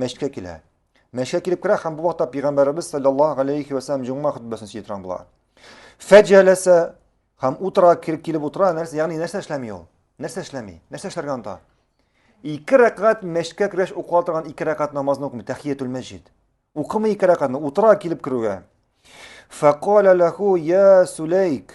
Мәчеткә килә. Мәчеткә килеп керә һәм бу вакытта пәйгамбәребез саллаллаһу алейхи ва саллям җомга хөтбәсен сөйли торган була. Фәҗәләсә һәм утыра килеп килеп утыра, нәрсә, ягъни нәрсә эшләми ул? Нәрсә эшләми? Нәрсә эшләргә анда? Ике рәкъгат мәчеткә кергәч укыла торган ике рәкъгат намазны укымый, тәхиятул мәҗид. Укымый ике рәкъгатны, утыра килеп керүгә. Фәкалә ләху я Сулейк.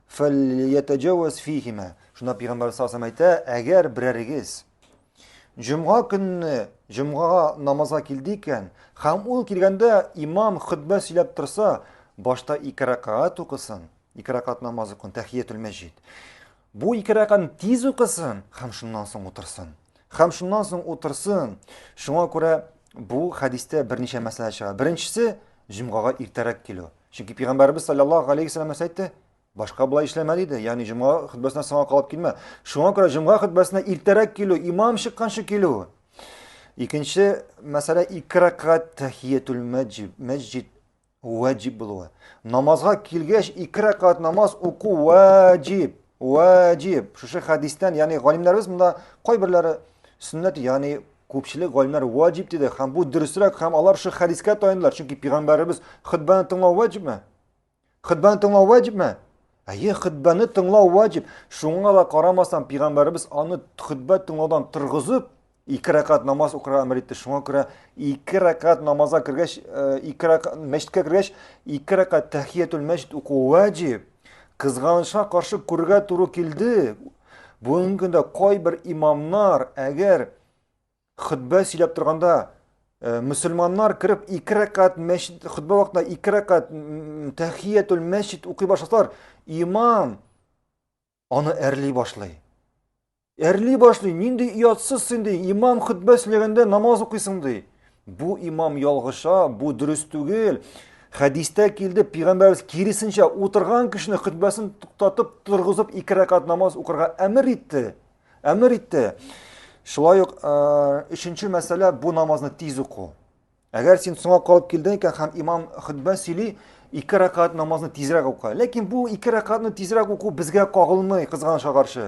Фәльятәҗәвәз фихимә. Шунда пигамбәр саллаллаху әйтә, әгәр берәрегез җомга көнне җомгага намазга килде икән, һәм ул килгәндә имам хөтбә сөйләп торса, башта ике ракаат укысын, ике ракаат намаз укын, тәхиятул мәҗид. Бу ике ракаатны тиз укысын һәм шуннан соң утырсын. Һәм шуннан соң утырсын. Шуңа күрә бу хәдистә берничә мәсьәлә чыга. Беренчесе, җомгага иртәрәк килү. Чөнки пәйгамбәрбез саллаллаһу алейхи ва сәлләм әйтте, башка болай эшләмә диде. Ягъни җомга хөтбәсенә соңга калып килмә. Шуңа күрә җомга хөтбәсенә иртәрәк килү, имам чыкканчы килү. Икенче мәсьәлә ике рәкъгәт тәхиятул мәҗид ваҗиб булуы. Намазга килгәч ике рәкъгәт намаз уку ваҗиб. Ваҗиб. Шушы хәдистән, ягъни галимнәребез монда кайберләре сөннәт, ягъни Күпчелек галимнәр ваҗиб диде һәм бу дөресрәк һәм алар шул хәдискә таянылар, чөнки пигамбәребез хөтбәне тыңлау ваҗибме? Хөтбәне тыңлау ваҗибме? Әйе, хөтбәне тыңлау ваҗиб. Шуңа да карамастан пигамбәребез аны хөтбә тыңлаудан торгызып, ике рәкат намаз укырга әмер итте. Шуңа күрә ике рәкат намазга кергәч, э, ике рәкат мәчеткә кергәч, ике рәкат тәхиятул мәчет уку ваҗиб. Кызганычка каршы күрергә туры килде. Бүгенге көндә кайбер имамнар, әгәр хөтбә сөйләп торганда э, мөселманнар кереп ике рәкат мәчет хөтбә вакытында ике рәкат тәхиятул мәчет укый башласалар, имам аны әрли башлый. Әрли башлый, нинди оятсыз син ди, имам хөтбә сөйләгәндә намаз укыйсың ди. Бу имам ялгыша, бу дөрес түгел. Хәдистә килде, пигамбәрбез киресенчә утырган кешене хөтбәсен туктатып, торгызып ике рәкат намаз укырга әмер итте. Әмер итте. Шулай ук өченче мәсьәлә бу намазны тиз уку. Әгәр син соңа калып килдең икән һәм имам хөтбә сөйли, ике рәкат намазны тизрәк ука. Ләкин бу ике рәкатны тизрәк уку безгә кагылмый, кызганычка каршы.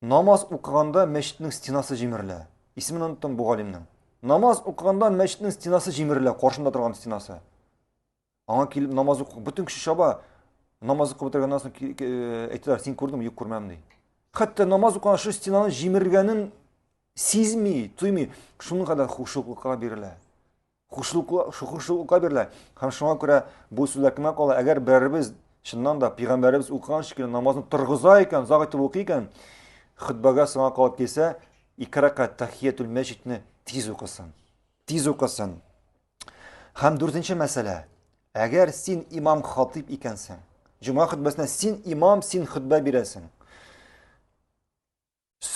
Намаз укыганда мәчетнең стенасы җимерелә. Исемен оныттым бу галимнең. Намаз укыганда мәчетнең стенасы җимерелә, каршында торган стенасы. Аңа килеп намаз уку, бөтен кеше чаба. Намаз укып бетергәннән соң э, әйтәләр, син күрдеңме? Юк, күрмәдем ди. Хәтта намаз укыган шу стенаны җимергәнен сизми, тоймый. Шуның кадәр хушуклыкка бирелә. Хушлыклыка бирелә. Һәм шуңа күрә бу сүзләр кемгә кала? Әгәр берәребез чыннан да пәйгамбәребез укыган шикелле намазны торгыза икән, озак итеп укый икән, хөтбәгә соңга калып килсә, ике рәкәт тәхиятул мәчитне тиз укысын. Тиз укысын. Һәм дүртенче мәсьәлә. Әгәр син имам хатип икәнсең, җомга хөтбәсенә син имам, син хөтбә бирәсең.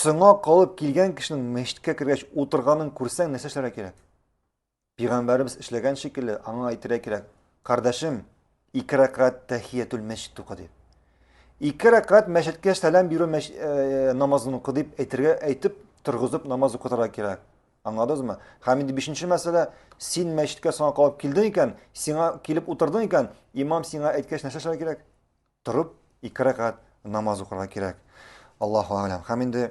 Соңа калып килгән кешенең мәчеткә кергәч утырганын күрсәң, нәрсә эшләргә кирәк? Пигамбәребез эшләгән шикелле, аңа әйтергә кирәк, кардәшем, ике рәкәт тәхиятул мәчет укы дип. Ике рәкәт мәчеткә сәлам бирү мәш... Э, намазын укы дип әйтергә әйтеп торгызып намаз укытырга кирәк. Аңладыңызмы? Һәм инде бишенче мәсьәлә, син мәчеткә соңа калып килдең икән, сиңа килеп утырдың икән, имам сиңа әйткәч нәрсә эшләргә кирәк? Торып ике рәкать намаз укырга кирәк. Аллаһу әгъләм. Һәм инде